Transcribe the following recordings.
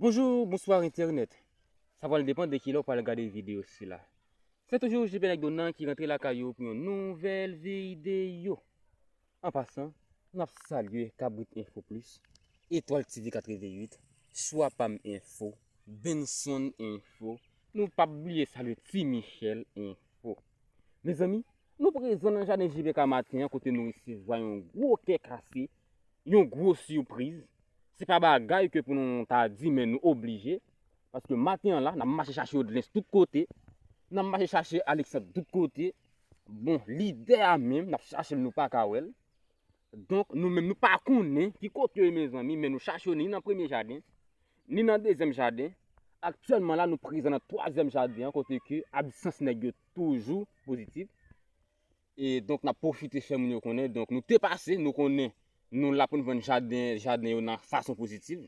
Bonjour, bonsoir internet. Sa pral depan de ki lè ou pral gade video sila. Se toujou JP Nèg Donan ki rantre lakay ou pou yon nouvèl video. An pasan, m ap salye Kabrit Info Plus, Etoile TV 88, Swa Pam Info, Benson Info, nou pap bliye salye Ti Michel Info. Mezanmi! Nou prezan nan jaden JPK maten an kote nou resevwa yon gwo kè kase, yon gwo sipriz. Se pa bagay ke pou nou ta di men nou oblije. Paske maten an la, nan mache chache Odlens tout kote, nan mache chache Alexandre tout kote. Bon, lidè a menm, nap chache l nou pa ka wè l. Donk nou menm nou pa konnen ki kote yo ye mezanmi men nou chache yo ni nan premye jaden, ni nan dezyèm jaden, aktyèlman la nou prezan nan twazyèm jaden an kote ke absans nèg yo toujou pozitif e donk nap pwofite fè moun yo konnen donk nou te pase nou konnen nou la pou nou vann jaden yo nan fason pozitif.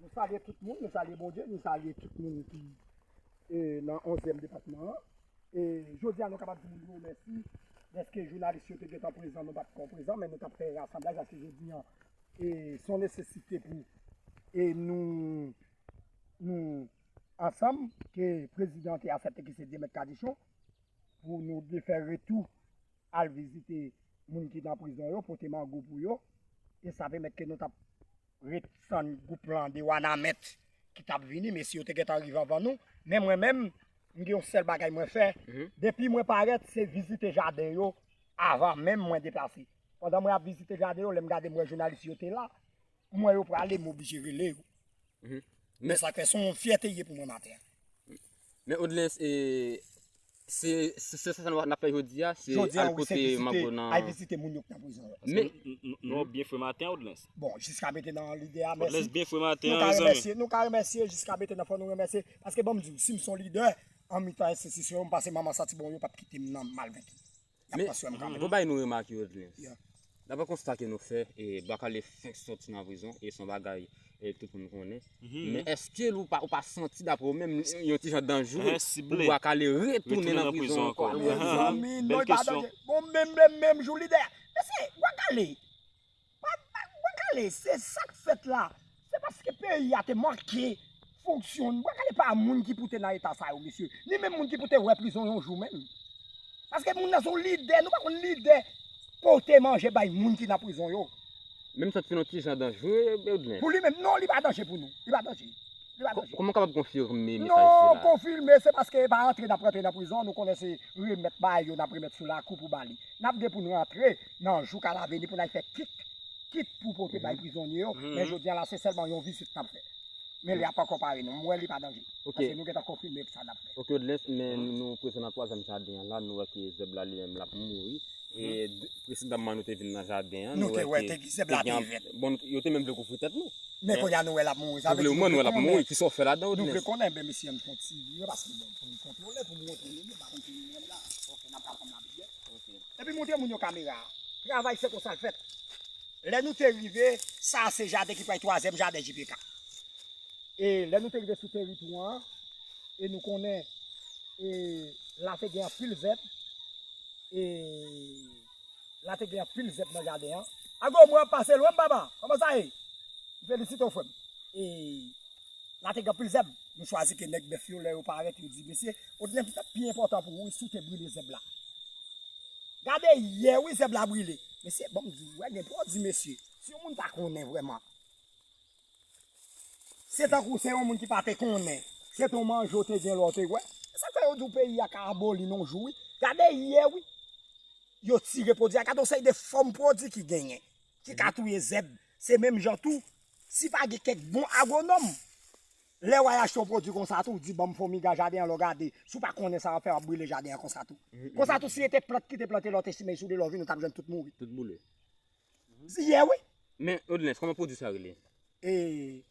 Nou salye tout moun, nou salye Bondye, nou salye tout moun ki nan onzyèm depatman an. E jodi a nou kapab di moun yo mèsi dèske jounalis yo te gentan prezan, nou pa t kon prezan men nou t ap fè rasanblaj aske jodi a e s on nesesite pou e nou ansanm ke prezidan te asepte ki se Dyemèt Kadichon pou nou defè retou al vizite moun ki nan prizon yo, pote mango pou yo, e sa pèmèt ke nou t ap ret tann gwoup lan de Wanament ki t ap vini, mesye yo te gen tan rive anvan nou. Men mwen menm, m gen yon sèl bagay mwen fè, depi mwen parèt, se vizite jaden yo avan menm mwen deplase. Pandan mwen ap vizite jaden yo, lè m gade m wè jounalis yo te la, m wè yo prale, m oblije rele yo. Mhm. Men sa kè son fierté yé pou mwen matin. Men Odlens e se se se sa nou na fè jodi a, se al kote Mango nan. Al visite moun yo ki nan prison yo. Men nou bien fwe matin Odlens. Bon, jiska bete nan lide a, merci. Odlens bien fwe matin an mes amis. Nou ka remèsye jiska bete nan fò nou remèsye paske bon m di w si m son leader an mitan institution m pase manman santi bon yo pap kite m nan mal vèki. Men, mwen bay nou remak yo di. Dapre konsta ke nou fè, e Bakale fenk sòti nan prizon, e son bagay e tout moun konnen. Men eske ou pa santi dapre ou menm yon ti jan danje pou Bakale retounen nan prizon ankò? Mezanmi, non e pa danje. Bon menm lè menm jou li dèyè. Mesye, Bakale, Bwa kale se sak fèt la se paske peyi a te manke fonksyon bwa kale pa moun ki pou te nan eta sa yo mesye ni menm moun ki pou te wè prizon yon jou menm paske moun nan son lidè nou pa konn lidè pote manje bay moun ki nan prizon yo menm santi nou ti jan danjre pou li menm non li pa danjre pou nou li pa danjre li pa danjre kouman kapab konfime mesaj sila non konfime se paske pa antre nan prizon nou konnen se remèt bay yo nan remèt sou lakou pou bali nap gen pou nou antre nan jou ka la veni pou nal fè kit kit pou pote bay prizonye yo men jodi an la se sèlman yon vizit nap fè men li ap ankò pare nou m wè li pa danje paske nou gentan konfime sa nap fè. Ok Odlens men nou prezan nan twazyèm jaden an la nou wè ke zèb la li menm lap mouri e presedanman nou te vin nan jaden an nou wè ke zèb la te vèt bon yo te menm vle kouvri tèt nou men kounye a nou wè lap mouri sa vle di nou wè konnen kisa w fè la dan Odlens nou vle konnen men mesye ann fon ti vire paske bon pou nou kontwole pou nou montre yo nou pa konn ki moun la ok nap pran kòm lapriyè. Epi montre moun yo kamera a. Travay se konsa l fèt. Lè nou te rive, sa a se jaden ki pral twazyèm jaden JPK. E lè nou te rive sou teritwa an, e nou konnen e la te gen anpil zèb, e la te gen anpil zèb nan jaden an. Ago, mwen ap pase lwen m papa. Kòman sa ye? M felisite w frè m. E. La te gen anpil zèb. Nou chwazi ke nèg bèf yo lè yo parèt yo di mesye ou gen sa k pi enpòtan pou ou si w te brile zèb la. Gade yè wi zèb la brile. Mesye banm di w wè gen pwodui mesye. Si yon moun pa konnen vrèman. Se tankou se yon moun ki pa te konnen. Se te w manje w te gen lè w te wè. Se sa k fè yo di w peyi a ka aboli nan yon jou wi. Gade yè wi. Yo tire pwodui a. Gade yon seri de fòm pwodui ki genyen. ki ka touye zèb. Se menm jan tou, si pa gen kèk bon agwonòm, lè w al achte yon pwodui konsa tou, w di ban m fonmi ga jaden an, lè w gade, si w pa konnen sa w ap fè, w ap brile jaden an konsa tou. Konsa tou, si e te plant ki te plante lè w te simen sou li, lè w vini, w t ap jwenn tout mouri. Tout boule. Ye wi! Men, Odlens, kòman pwodui sa rele? E,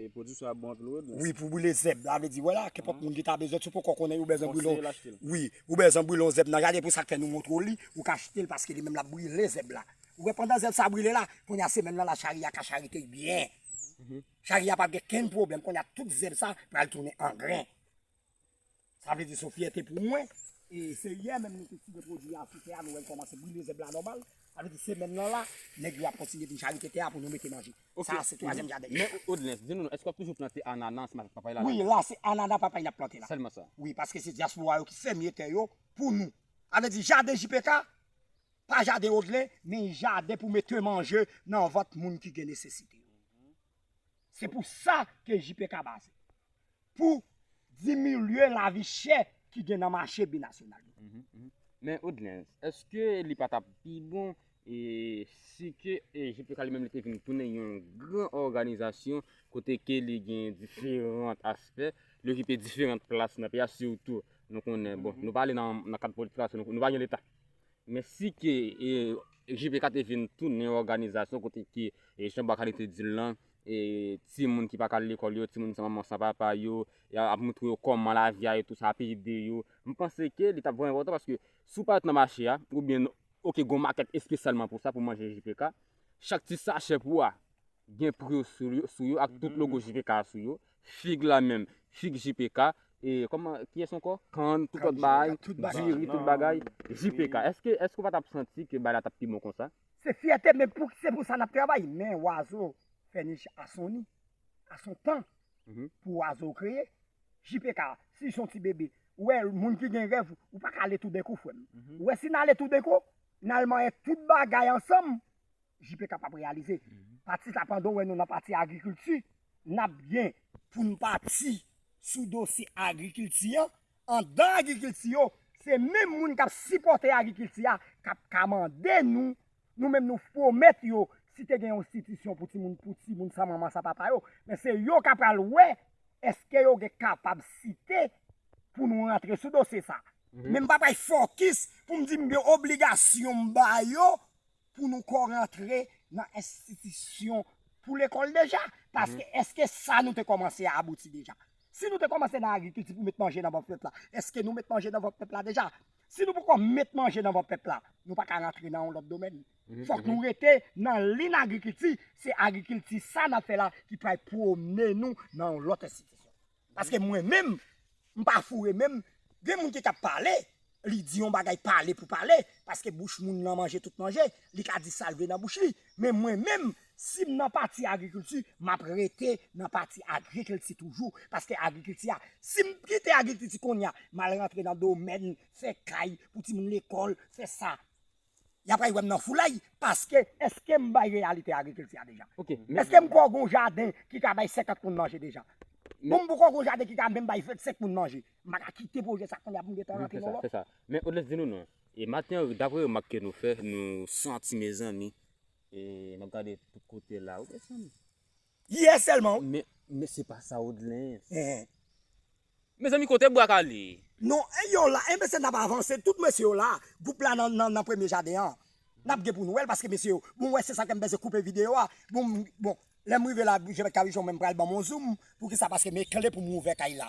E pwodwi sa bon anpil wi. Wi pou brile zèb la vle di wè la kenpòt moun ki ta bezwen sou poko konnen ou bezwen brile wi ou bezwen brile yon zèb nan jade pou sak fè nou montre w li ou ka achte l paske li menm lap brile zèb la ou wè pandan zèb sa brile la kounya se menm nan la chari a ka charite byen chari a pap gen kenn pwoblèm kounya tout zèb sa pral tounen angren. Sa vle di son fyète pou mwen. E se yè menm nou te tire pwodwi a sou tè a, nou wè l kòmanse brile zèb la nòmal. Sa vle di semèn lan la, nèg yo ap kontinye vin chalite tè a pou nou mete manje. Sa a se twazyèm jaden yo. Men Odlens, di nou non, èske w ap toujou plante anana ansanm avèk papay la? Wi, la se anana papay n ap plante la. Sèlman sa? Wi, paske se dyaspora yo ki fèmye tè yo pou nou. Sa vle di jaden JPK, pa jaden Odlens, men jaden pou mete manje nan vant moun ki gen nesesite yo. Se pou sa ke JPK baze. pou diminye lavi chè ki gen nan mache binasyonal yo. Men Odelens, èske li pa t ap pi bon si ke JPK li menm li te vin tounen yon gran òganizasyon kote ke li gen diferan aspè, li okipe diferan plas nan peyi a, sitou nou konnen, bon, nou pale nan kad politik la, nou pa gen leta. Men si ke JPK te vin tounen yon òganizasyon kote ke, jan Bacardi te di l lan, e ti moun ki pa ka al lekòl yo, ti moun san manman san papa yo, y ap montre yo kòman lavi a e tou sa ap ede yo. M panse ke li t ap vrèman enpòtan paske si w pa ret nan mache a oubyen oke gen yon makèt espesyalman pou sa pou manje JPK, chak ti sachè pou a gen pri yo sou yo ak tout logo JPK a sou yo, fig la menm, fig JPK, e kòman, kiyès ankò? kann, tout lòt bagay, diri, tout bagay, JPK. Èske w pa t ap santi ke bagay la t ap pi bon konsa? Se fyète men pou se pou sa nap travay men wazo fè nich a son ni a son tan pou wazo kreye JPK si son ti bebe ou wè moun ki gen rèv ou pa ka ale tou denkou frè m ou wè si n ale tou denkou n al manyen tout bagay ansanm JPK pap reyalize pati sa pandan w wè nou nan pati agrikilti nap gen pou n pati sou dosye agrikilti an. Andan agrikilti yo, se menm moun k ap sipòte agrikilti a k ap ka mande nou, nou menm nou pwomèt yo si te gen yon stitisyon pou timoun pou timoun san manman san papa yo, men se yo k apral wè èske yo gen kapabsite pou nou rantre sou dosye sa. Men m pa pral fokis pou m di m gen obligasyon m ba yo pou nou ko rantre nan enstitisyon pou lekòl deja? Paske eske sa nou te kòmanse a abouti deja? Si nou te kòmanse nan agrikilti pou met manje nan vant pèp la, eske nou met manje nan vant pèp la deja? Si nou poko met manje nan vant pèp la, nou pa ka rantre nan yon lòt domèn. Fòk nou rete nan lin agrikilti, se agrikilti sa n ap fè la ki pral pwomennen nou nan yon lòt enstitisyon. Paske mwen menm, m pa foure menm, gen moun ki ka pale, li di yon bagay pale pou pale, paske bouch moun lan manje tout manje, li ka di sa l vle nan bouch li, men mwen menm, si m nan pati agrikilti, m ap rete nan pati agrikilti toujou, paske agrikilti a, si m kite agrikilti kounye a, m al rantre nan domèn fè kay pou timoun lekòl, fè sa. y apral wè m nan foulay paske èske m bay reyalite agrikilti a deja? Èske m kwè gon jaden ki ka bay 50 moun manje deja? Pou m kwè gon jaden ki ka menm bay 25 moun manje, m pa ka kite pwojè sa kounya pou m gen tan rantre nan lòt? Fè sa. Men Odlens di nou non. E Martin Henry dapre remak ke nou fè, nou santi mezanmi, e m ap gade tout kote la wi mezanmi. Yè sèlman w. Men, men se pa sa Odelens. Eeh. Mezanmi kote bwa kale. Non, yo la, enben se nap avanse, tout mesye yo la, gwoup la nan nan premye jaden an. Nap gen pou nou wè l paske mesye yo, bon wè se sa kèm bese koupe video a, bon m bon lèm rive la je vais cabuchon men pral banm on zoom, poukisa paske men kle poum ouvè kay la.